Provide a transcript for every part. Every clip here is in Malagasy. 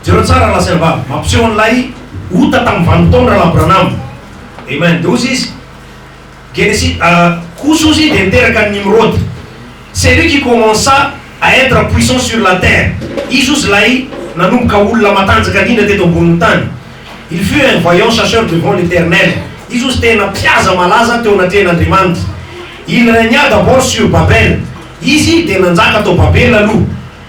Jereo tsara lahy sy anabavy, mampiseho an'ilay ota tamin'ny valo taona Rahalahy Branham. Amen. Dia hozy izy, Genesi, ah, kosa hozy dia niteraka an'i Nimrody. C'est lui qui commença à être puissant sur la terre. Izy hozy ilay nanomboka olona matanjaka indrindra teto ambonin'ny tany. Il fut un vaillant chasseur devant l'Eternel. Izy hozy tena mpihaza malaza teo anatrehan'Andriamanitra. Il regna d'abord sur Babel. Izy dia nanjaka tao Babela aloha.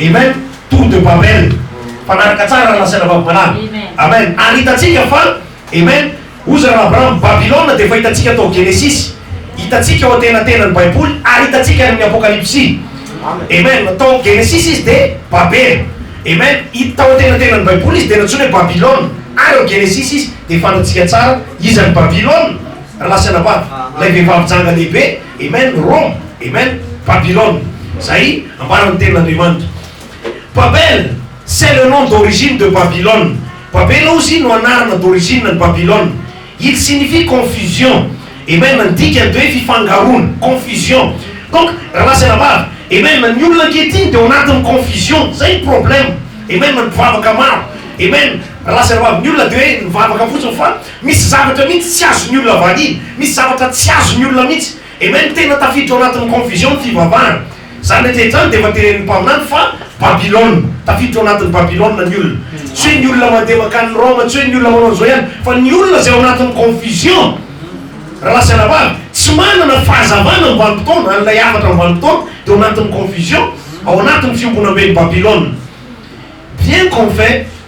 Amen! Tour de Babel. Mpanaraka tsara raha nasaina vavim-balahy. Amen! Ary hitantsika fa, Amen! Oza raha Abraham, Babylona dia efa hitantsika tao Genesisy. Hitantsika ao antenatenan'ny Baiboly ary hitantsika any amin'ny Apokalypsy. Amen! Tao Genesisy izy dia Babel. Amen! Hita tao antenatenan'ny Baiboly izy dia nantsoina hoe Babylona. Ary ao Genesisy izy dia fantatsika tsara iza ny Babylona raha nasaina vavy. Ilay vehivavy janga lehibe. Amen Roma Amen Babylone Zay ambaran'ny tenin'Andriamanitra Babel c'est le nom d'origine de Babylone Babela ozy no anarana d'origine ny Babylone Il signifie confusion Amen Ny dikany dia hoe fifangaroana Confusion Donc rahalahy sy rahavavy Amen Ny olona ankehitriny dia ao anatin'ny confusion Zay ny problème Amen Ny mpivavaka maro Amen Rahalahy sy rahavavy Ny olona dia hoe nivavaka fotsiny fa Misy zavatra mihitsy tsy azon'ny olona valiana, misy zavatra tsy azon'ny olona mihitsy. Amen, tena tafiditra ao anatin'ny confusion ny fivavahana. Izany rehetra izany dia efa tenenin'ny mpaminany fa Babylona, tafiditra ao anatin'ny Babylona ny olona. Tsy hoe ny olona mandeha mankany Roma, tsy hoe ny olona manao an'izao ihany, fa ny olona izay ao anatin'ny confusion. Rahalahy sy anabavy, tsy manana fahazavana amin'ny vanim-potoana, an'ilay hafatra amin'ny vanim-potoana, dia ao anatin'ny confusion, ao anatin'ny fiombonamben'i Babylona. Bien qu'on fait.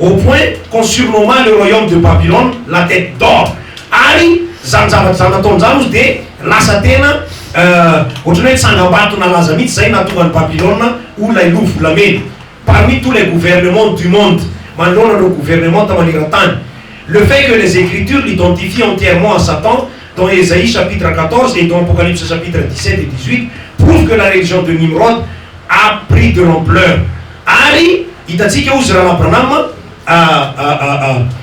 au point qu'on surnomma le royaume de Babylone la tête d'or ary zany zavatra zany nataony zany ozy dia lasa tena ohatrany hoe tsangambato nalaza mihitsy zay nahatonga an'i Babylone ho lay loha volamena parmi tous les gouvernements du monde manoloana ireo gouvernementa manerantany le fait que les ecritures l'identifient entièrement à Satan Dans Esaïe chapitre 14 et dans Apocalypse chapitre 17 et 18 prouve que la religion de Nimrod a pris de l'ampleur ary hitantsika hozy Rahalahy Branham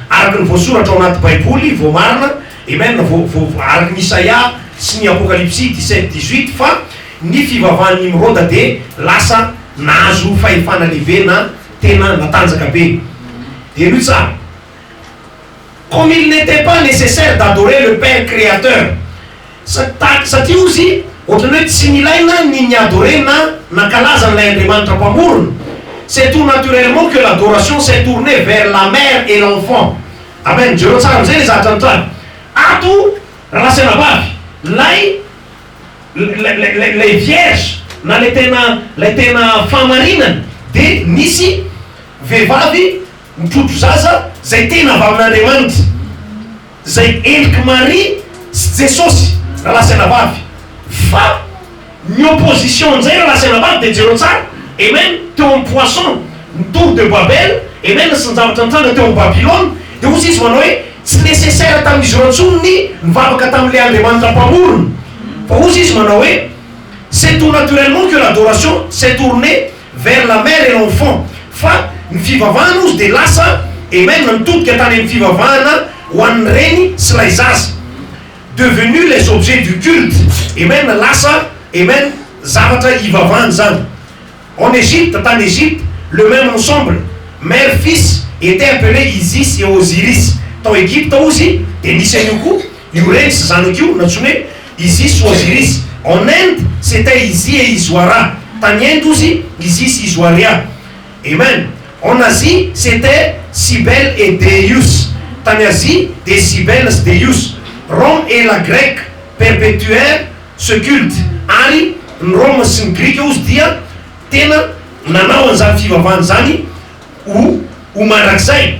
araka ny voasoratra ao anaty Baiboly voamarina, amen, araky ny Isaia sy ny Apokalypsy 17, 18 fa ny fivavahan'i Nimroda dia lasa nahazo fahefana lehibe na tena natanjaka be. Henoy tsara. Comme il n'etait pas necessaire d'adorer le Père Créateur, sa, ta, satria hozy ohatran'ny hoe tsy nilaina ny ni-adorer na nankalaza an'ilay Andriamanitra Mpamorona, c'est tout naturellement que l'adoration s'est tournée vers la mère et l'enfant. Amen. Jereo tsara amin'izay ilay zavatra nitranga. Ato, Rasenabavy, ilay, ilay, ilay, ilay, ilay vierge, na ilay tena, ilay tena fahamarinana, dia nisy vehivavy, Mitrotro zaza izay tena avy amin'Andriamanitra, izay endrik'i Maria sy Jesosy, rahalahy sy anabavy. Fa ny opposition amin'izay rahalahy sy anabavy dia jereo tsara, amen, teo amin'ny poisson, ny tour de Babel, amen, sy ny zavatra nitranga teo amin'ny Babylona, dia hoy Jesosy manao hoe, tsy nécessaire tamin'izy ireo intsony ny nivavaka tamin'ilay Andriamanitra Mpamorona, fa hoy Jesosy manao hoe, c'est tout naturellement que l'adoration s'est tournée vers la mère et l'enfant fa ny fivavahana ozy dia lasa Amen nitodika tany amin'ny fivavahana ho an'ny reny sy ilay zaza devenus les objets du culte Amen lasa Amen zavatra hivavahana izany en Egypte tany Egypte le même ensemble mère fils était appelé Isis et Osiris tao Egypte ozy dia nisy an'io koa Io rens izany koa natsoina hoe Isis ou Osiris, en Inde c'etait Isi et Iswara, tany Inde ozy Isis sy Iswaria, Amen, en Asie c'etait Cybele et Deus, tany Azia dia Cybele sy Deus, Rome et la Grèce perpetuèrent ce culte, ary ny Roma sy ny Grika ozy dia tena nanao an'izany fivavahana izany ho ho mandrakizay.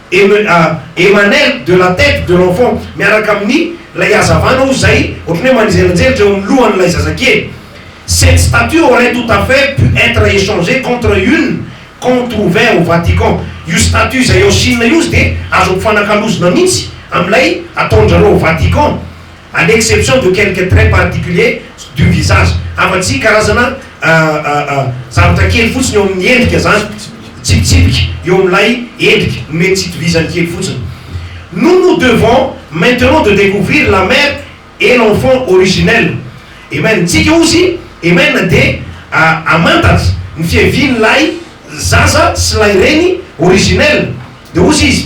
Emmanuel de la tête de l'enfant miaraka amin'ny ilay hazavana hoy izay ohatran'ny hoe manjelinjelitra eo amin'ny lohan'ilay zazakely. Cette statue aurait tout à fait pu être échangée contre une qu'on trouvait au Vatican. Io statue izay ao Chine io dia azo ampifanakalozina mihitsy amin'ilay ataon-dry zareo ao Vatican. à l'exception de quelques traits particuliers du visage, afa-tsy karazana zavatra kely fotsiny eo amin'ny endrika zany, tsipitsipika eo amin'ilay endrika, nomen'ny tsy itovizany kely fotsiny. Nous nous devons maintenant de découvrir la mère et l'enfant originel. Amen. Tsika ozy, amen, dia hamantatra ny fiavian'ilay zaza sy ilay reny originel. Dia ozy izy.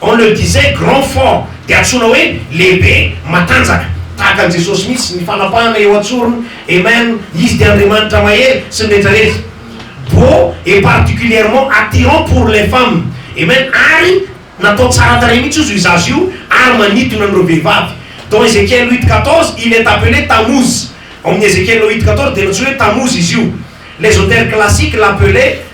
On le disait grand fort dia antsoina hoe lehibe matanjaka tahaka an'i Jesosy mihitsy ny fanapahana eo an-tsorony Amen Izy dia Andriamanitra mahery sy ny rehetra rehetra Beau et particulièrement attirant pour les femmes Amen Ary natao tsara tarehy mihitsy ozy io zaza io ary manintona an'ireo vehivavy Dans Ezekiel huit quatorze il est appelé Tammuz Ao amin'ny Ezekiel huit quatorze dia nantsoina hoe Tammuz izy io L'esotère classique l'appelait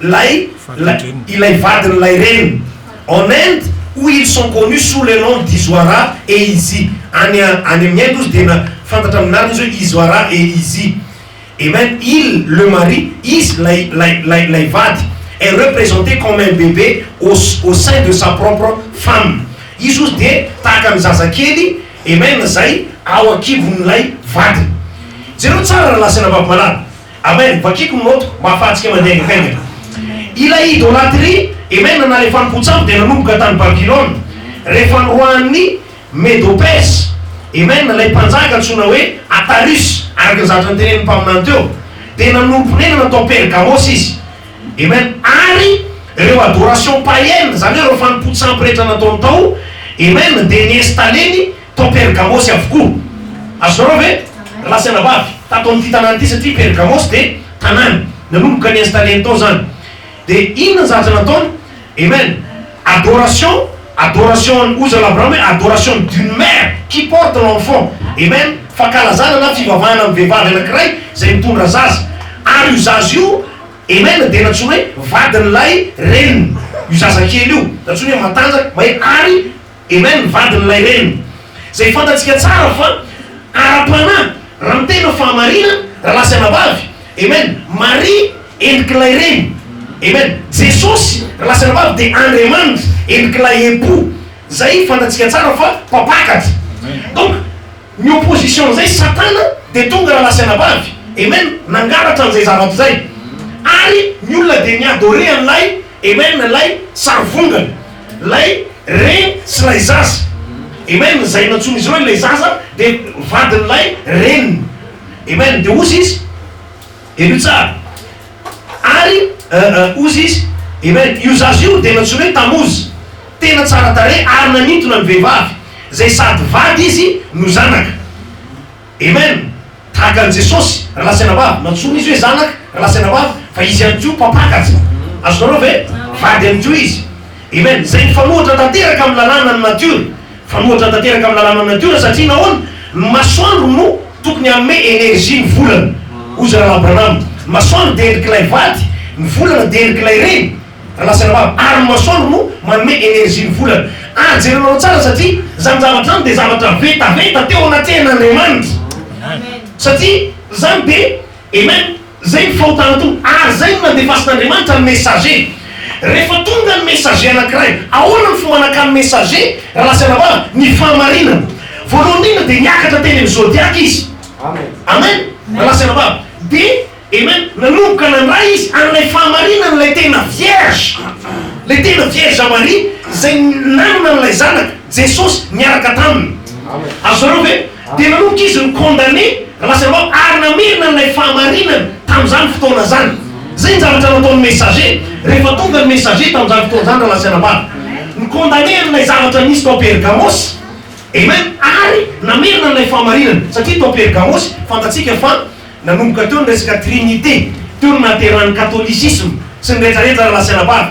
Ilay, ilay, ilay vadin'ilay reniny. En Inde, où ils sont connus sous le nom d'Iswara et Izy. Any, any amin'i Inde hozy dia na, fantatra amin'ny anarana izy hoe Iswara et Izy. Et même il, le mari, izy, ilay, ilay, ilay, ilay vady, est représenté comme un bébé au, au sein de sa propre femme. Izy hozy dia tahaka ny zazakely, et même, izay ao an-kibon'ilay vadiny. Jereo tsara, rahalahy sy anabavy malala. Amen vakiko ny moto mba afahantsika mandeha haingaikaingana Ilay idolatria Amen nanalefany potsabo dia nanomboka tany Babylona rehefa noroahan'ny Medo Perse Amen ilay mpanjaka antsoina hoe Atarus araka ny zavatra notenenin'ny mpaminany teo dia nanorim-ponenana tao Pergamos izy Amen ary ireo adoration païenne izany hoe ireo fanompoan-tsampy rehetra nataony tao Amen dia ni-installer-ny Tao Pergamosy avokoa. Azonareo ve? Lahy sy anabavy, tato amin'ity tanàna ity, satria Pergamosy dia tanàna. Nanomboka ni-installer-ny tao izany. Dia inona ny zavatra nataony? Amen! Adoration, adoration an'i Oza Labraham hoe adoration d'une mère qui porte l'enfant. Amen! Fankalazana na fivavahana amin'ny vehivavy anankiray izay mitondra zaza. Ary io zaza io, amen, dia nantsoina hoe vadin'ilay reniny. Io zazakely io, nantsoina hoe matanjaka, mahery, ary. Amen, ny vadin'ilay reny. Izay fantatsika tsara fa ara-panahy, raha ny tena fahamarinana, rahalahy sy anabavy. Amen, Maria endrik'ilay reny. Amen, Jesosy, rahalahy sy anabavy, dia Andriamanitra, endrik'ilay Epoux. Izay fantatsika tsara fa mpampakatra. Donc, ny opposition-n'izay, Satana, dia tonga rahalahy sy anabavy. Amen, nangalatra an'izay zavatra izay. Ary ny olona dia mi-adorer an'ilay. Amen ilay sarivongana, ilay reny sy ilay zaza. Amen izay nantsoin'izy ireo ilay zaza dia vadin'ilay reniny. Amen dia ozy izy. Henoy tsara. Ary ozy izy. Amen io zaza io dia nantsoina hoe Tamozy. Tena tsara tarehy ary nanintona ny vehivavy izay sady vady izy no zanaka. Amen! Tahaka an'i Jesosy, Rahalahy sy Anabavy. Nantsoina Izy hoe Zanaka, Rahalahy sy Anabavy, fa Izy ihany koa Mpampakatra. Azonareo ve? Vady ihany koa Izy. Amen! Izay mifanohitra tanteraka amin'ny lalànan'ny natiora. Mifanohitra tanteraka amin'ny lalànan'ny natiora satria nahoana? Ny masoandro no tokony hanome energie ny volana, hoy Rahalahy Branham. Ny masoandro dia endrik'ilay vady, ny volana dia endrik'ilay reny. Razafiravalo ary Masoandro no manome energie ny volana ary jerenareo tsara satria zany zavatra zany dia zavatra vetaveta teo anatrehan' Andriamanitra satria zany dia Amen zay ny fahotana tonga ary zay no nandefasin' Andriamanitra ny messager rehefa tonga ny messager anakiray ahoana ny fomba nakany messager Razafiravalo ny fahamarinana voalohany indrindra dia niakatra teny amin' ny zodiac izy Amen Razafiravalo dia Amen. Nanomboka nandray izy an'ilay fahamarinana ilay tena vierge, ilay tena vierge Maria izay nanana an'ilay zanaka, Jesosy, niaraka taminy. Azonareo ve? Dia nanomboka izy ni-condamne, Razainao, ary namerina an'ilay fahamarinana tamin'izany fotoana izany. Izay ny zavatra nataon'ny Messager, rehefa tonga ny Messager tamin'izany fotoana izany, rahalahy sy anabavy. Ni-condamne an'ilay zavatra nisy tao Pergamosy. Amen. Ary namerina an'ilay fahamarinana, satria tao Pergamosy, fantatsika fa Nanomboka teo ny resaka Trinite, teo no nahaterahan'ny Katôlisisma sy ny retraretra raha lasa anabavy.